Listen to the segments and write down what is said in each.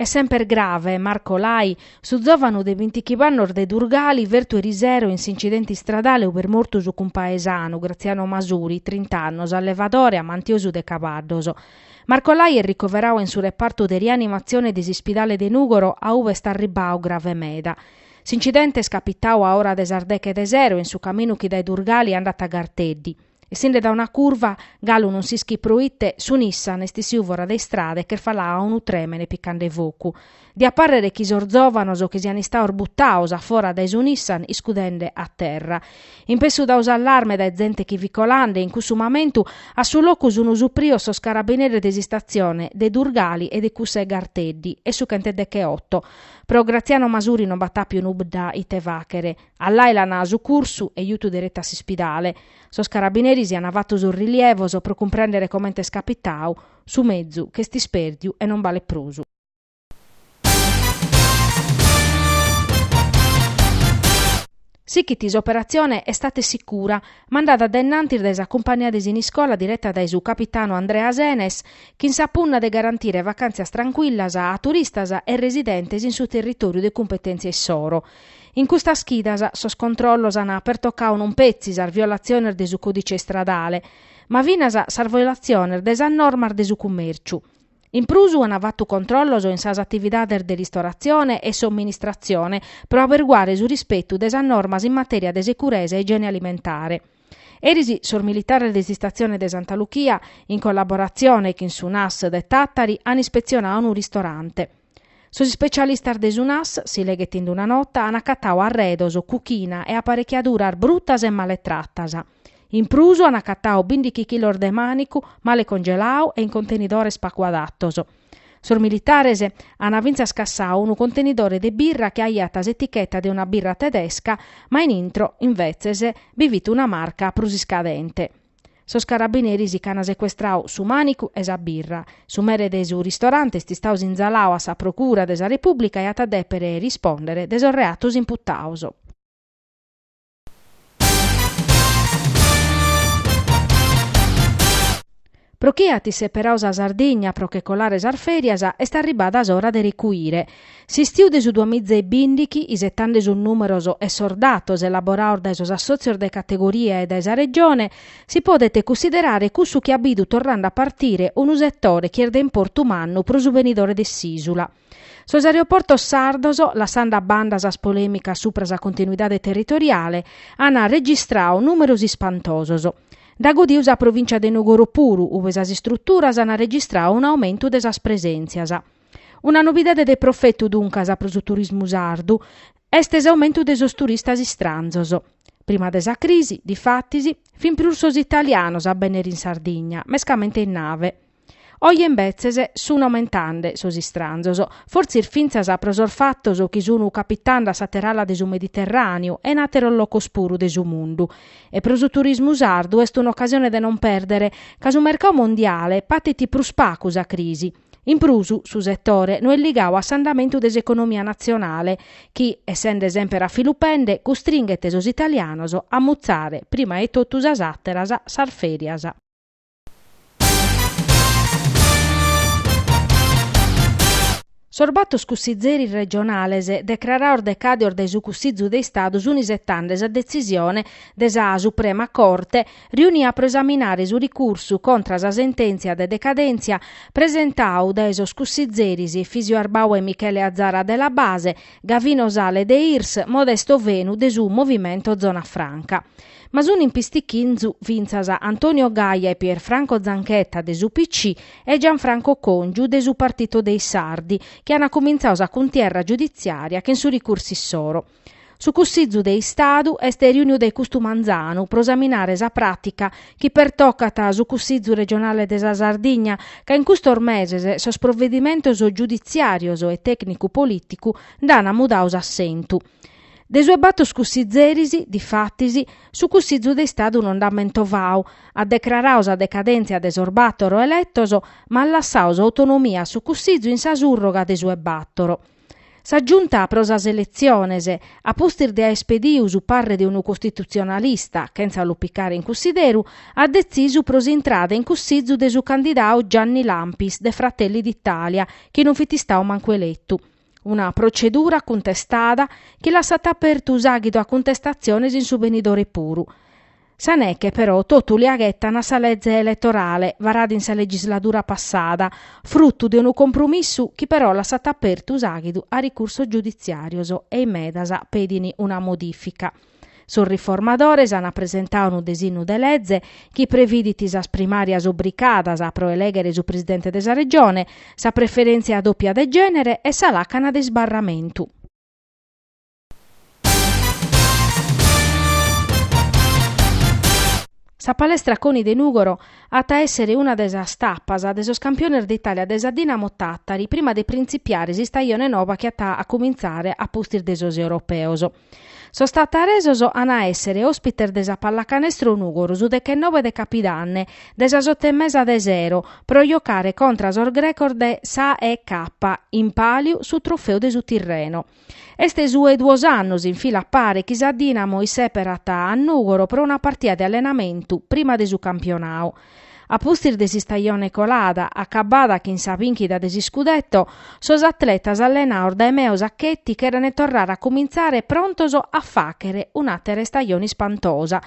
Est semper grave, Marco Lai, su zòvanu de bintichimb'annos de Durgali fertu erisero in s'incidente istradale ube est mortu su cumpaesanu, Graziano Masuri, trint'annos, allevadore amantiosu de cabaddos. Marco Lai est ricoveradu in su repartu de rianimatzione de s'ispidale de Nùgoro a ube est arribbadu grave meda. S'incidente est capitadu a ora de sas deche de sero e in su caminu chi dae Durgali andat a Garteddi. Essinde dae una curva, galu non s'ischit proite, su Nissan est issidu fora de istrada ch'est falada a unu trèmene picande focu. Diat pàrrere chi sos zòvanos chi sian istados butados a fora dae su Nissan iscudende a terra. Impessu dadu s'allarme dae zente chi fit colande, in cussu mamentu, a su locu sun supridos sos carabineres de s'istatzione de Durgali e de cussa 'e Garteddi e su chentudegheoto. Pro Graziano Masuri non b'at àpiu nudda ite fàghere. A Lai l'an sucursu e jutu deretu a s'ispidale. Sos carabineris an fatu sos rilievos pro cumprèndere comente est capitadu, su mezu ch'est ispèrdiu e non balet prus. Sichit s'operatzione Estate sicura, mandada a innantis dae sa cumpànnia de Siniscola direta dae su capitanu Andrea Senes, chin sa punna de garantire vacàntzias trancuillas a turistas e residentes in su territòriu de cumpetèntzia issoro. In custas chidas sos controllos an pertocadu non petzi sas violatziones de su còdice istradale, ma finas sas violatziones de sas normas de su cummèrciu. In prus an fatu controllos in sas atividades de ristoratzione e somministratzione pro aberguare su rispetu de sas normas in matèria de seguresa e igiene alimentare. Eris sos militares de s'istatzione de Santa Luchia, in collaboratzione chin su NAS de Tàtari, an ispetzionadu unu ristorante. Sos ispecialistas de su NAS, si leghet in una nota, an acatadu arredos, cuchina e aparechiaduras brutas e male tratas. In prus an acatadu bindighi chilos de mànicu male congeladu e in contenidores pagu adatos. Sos militares an fintzas cassadu unu contenidore de birra chi aiat s'eticheta de una birra tedesca ma in intro, invetzes, bi fit una marca prus iscadente. Sos carabineris ch'an secuestradu su mànicu e sa birra. Su mere de su ristorante est istadu sinzaladu a sa Procura de sa Repùblica e at a dèpere rispòndere de sos reatos imputados. Pro chie at isseperadu sa Sardigna pro che colare sas fèrias, est arribada s'ora de recuire. S'istiu de su duamiza e bìndighi, isetande sos nùmeros e sos datos elaborados dae sos assòtzios de categoria e dae sa Regione, si podet cussiderare cussu chi at bidu torrende a partire unu setore chi est de importu mannu pro su benidore de s'ìsula. Sos aeroportos sardos, lassende a banda sas polèmicas subra sa continuidade territoriale, ant registradu nùmeros ispantosos. Nd'at godidu sa provìncia de Nugoro puru, ue sas istruturas ant registradu un'aumentu de sas presèntzias. Una novidade de profetu, duncas, pro su turismu sardu est s'aumentu de sos turistas istranzos. Prima de sa crisi, difatis, fin prus sos italianos a bennere in Sardigna, mescamente in nave. Oje imbetzes sun aumentande sos istranzos, fortzis fintzas pro sos fatos chi sun capitande a s'àtera ala de su Mediterràneu e in àteros locos puru de su mundu. E pro su turismu sardu est un'ocasione de non pèrdere ca su mercadu mondiale patit prus pagu sa crisi. In prus, su setore no est ligadu a s'andamentu de s'economia natzionale chi, essende semper a filupende, custringhet sos italianos a mutzare prima 'e totu sas àteras sas fèrias. Sos batos cussizeris regionales decrarados decàdios dae su Cussizu de Istadu sunt isetande sa detzisione de sa Suprema Corte riunia pro esaminare su ricursu contra sa sentèntzia de decadèntzia presentadu dae sos cussizeris Efisio Arbau e Michele Azara de La Base, Gavino Sale de Irs, Modesto Fenu de su Movimento Zona Franca. Ma sun in pistichinzu fintzas Antonio Gaia e Pierfranco Zanchetta de s'UPC e Gianfranco Congiu de su Partito dei Sardi, chi ant cumintzadu sa cuntierra giuditziària chin su ricursu issoro. Su Cussizu de Istadu est riuniu dae custu manzanu pro esaminare sa pràtica chi pertocat su Cussizu regionale de sa Sardigna ca in custos meses sos provedimentos giuditziàrios e tècnicu-polìticu nd'an mudadu s'assentu. De su 'e batos cussizeris, difatis, su Cussizu de Istadu no nd'at mentovadu, at decraradu sa decadèntzia de sos bator eletos ma at lassadu s'autonomia a su Cussizu in sa surroga de su 'e bator. Sa Giunta pro sas eletziones, a pustis de àer pedidu su parre de unu costitutzionalista, chentza lu picare in cussideru, at detzisu pro s'intrada in cussizu de su candidadu Gianni Lampis de Fratelli d'Italia, chi non fit istadu mancu eletu. Una protzedura cuntestada chi lassat apertu s'àghidu a cuntestatziones in su benidore puru. Sa neche però totu lia ghetan a sa lege eletorale varada in sa legisladura passada, frutu de unu compromissu chi però lassat apertu s'àghidu a ricursos giuditziàrios e in medas pedin una modìfica. Sos riformadores ant presentadu unu desinnu de lege chi previdit sas primàrias obricadas pro elèghere su presidente de sa Regione, sa preferèntzia dòpia de gènere e sa làcana de isbarramentu. Sa palestra Coni de Nùgoro at a èssere una de sas tapas de sos campiones d'Itàlia de sa Dinamo Tàtari prima de printzipiare s'istajone nova chi at a acumintzare a pustis de sos europeos. Sos tataresos an a èssere òspites de sa Pallacanestro Nùgoro su dechennove de capidanne de sas oto e mesa de sero pro jocare contra sos grecos de s'AEK in pàliu su trofeu de su tirreno. Est su 'e duos annos in fila a pare chi sa Dinamo isseperat a Nùgoro pro una partia de allenamentu prima de su campionau. A pustis de s'istajone colada, acabada chin sa bìnchida de s'iscudetto, sos atletas allenaos dae Meo Sacchetti cherent torrare a cumintzare prontos a fàghere un'àtera istajone ispantosa.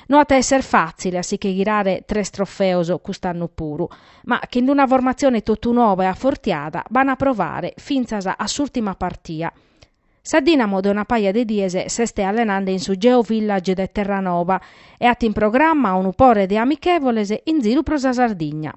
No at a èssere fàtzile a si che ghirare tres trofeos cust'annu puru. ma chin una formatzione totu noba e afortiada b'an a provare fintzas a s'ùrtima partia. Sa Dìnamo de una paja de dies s'est allenende in su Geo Village de Terranoba e at in programma unu pore de amichevoles in ziru pro sa Sardigna.